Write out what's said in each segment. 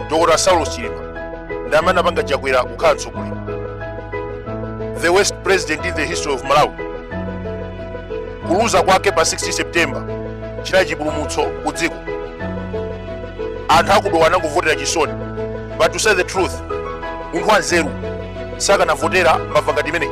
dr saulos chilima ndi amene apanga chakwera kukhala mtsogoleri the worst president in the history of malawi kuluza kwake pa 16 september chinali chipulumutso ku dziko anthu akudowa anangovotera chisoni but to say the truth munthu wanzeru sakanavotera mbava ngati imeneyi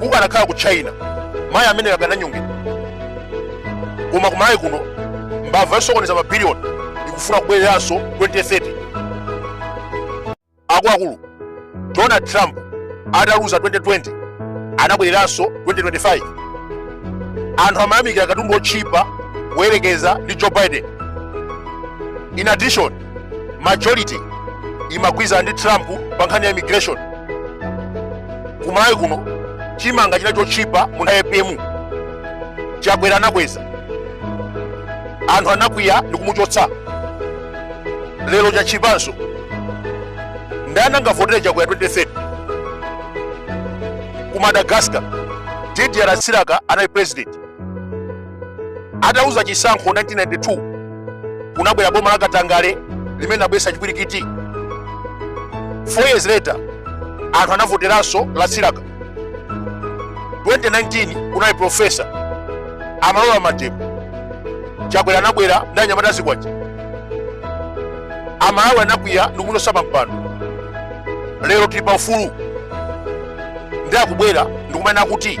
kukanakhala ku china mayi ameneyo akananyongedwa koma ku malawi kuno mbava yosokoneza mabiliyoni ikufuna kubwereranso 2030 akuluakulu donald trump ataluza 2020 anabwereranso 2025 anthu amayamikira katundu otchipa kuyerekeza ndi joe biden in addition majority imagwirizana ndi trump pa nkhani ya immigration ku malawi kuno chimanga chinali chotchipa mu nthawi ya apm chakwera anakweza anthu anakwiya ndi kumuchotsa lero chatchipanso ndani angavotere chakwera 2030 ku madagascar didier ratsiraka anali president ataluza chisankho 1992 kunabwera boma la katangale limene linabweretsa chipwirikiti four years later anthu anavoteranso ratsiraka 2019 kunali profesa amalola mademo chakwera anabwera ndi anyamata azikwanje amalawi anakwiya ndi kumuchotsa pampando lero tili pa ufulu ndi akubwera ndikumanena kuti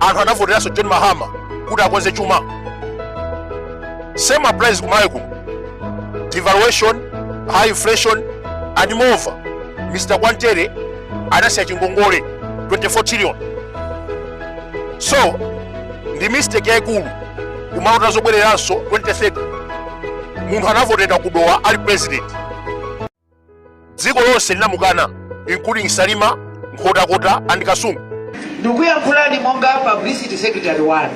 anthu anavoteranso john mahama kuti akonze chuma same applies ku malawi kuno devaluation high inflation and moreover mr kwantere anasiya chingongole 24 trillion so ndi mistake yayikulu kumalota zobwereranso 2030 munthu anavotedwa ku dowa ali president dziko lonse linamukana including salima nkhotakota and kasungu ndikuyankhulani monga publicity secretary wanu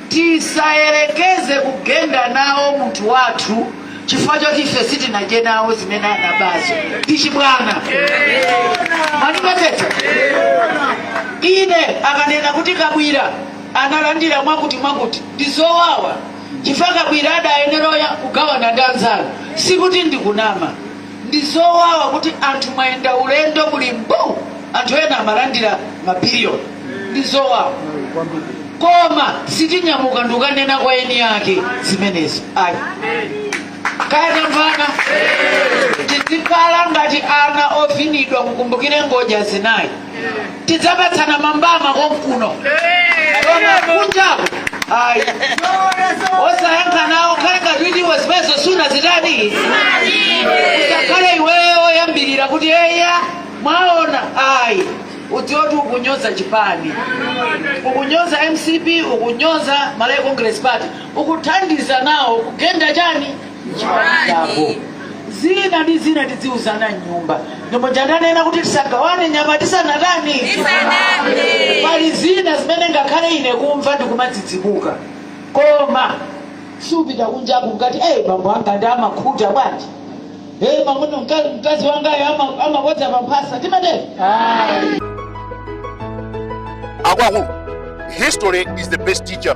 tisayerekeze kugenda nawo munthu wathu chifukwa choti ife sitinadye nawo zimene anabazo ndi chibwana mwandimvetsetsa ine akanena kuti kabwira analandira mwakuti mwakuti ndi zowawa chifukwa kabwira adayenera oya- kugawana ndi anzanu sikuti ndikunama ndi zowawa kuti anthu mwayenda ulendo muli mbu anthu ena amalandira mabiliyoni ndi zowawa koma sitinyamuka ndikanena kwa eni ake zimenezo ayi kaya tamvana tizikhala ngati ana ovinidwa mukumbukire ngodya zinayi tidzapatsana mbama konkuno koma kunjako ayi osayankha nawo khala ngati iwe zimenezo suna zitani usakhale iweyo oyambirira kuti eya mwaona ayi udziwe kuti ukunyoza chipani ukunyoza mcp ukunyoza malawi congress party ukuthandiza nawo kugenda chani chako zina ndi zina tidziuzana mnyumba ndipo nja ndanena kuti tisagawane nyama tisanatani pali zina zimene ngakhale ine kumva ndikumadzidzimuka koma supita kunjako nkuti eyi bambo anga ndiye amakhuta bwanji eyi mamuno mkazi wangayo ama- amakodza pamphasa timatero akuluakulu history is the best teacher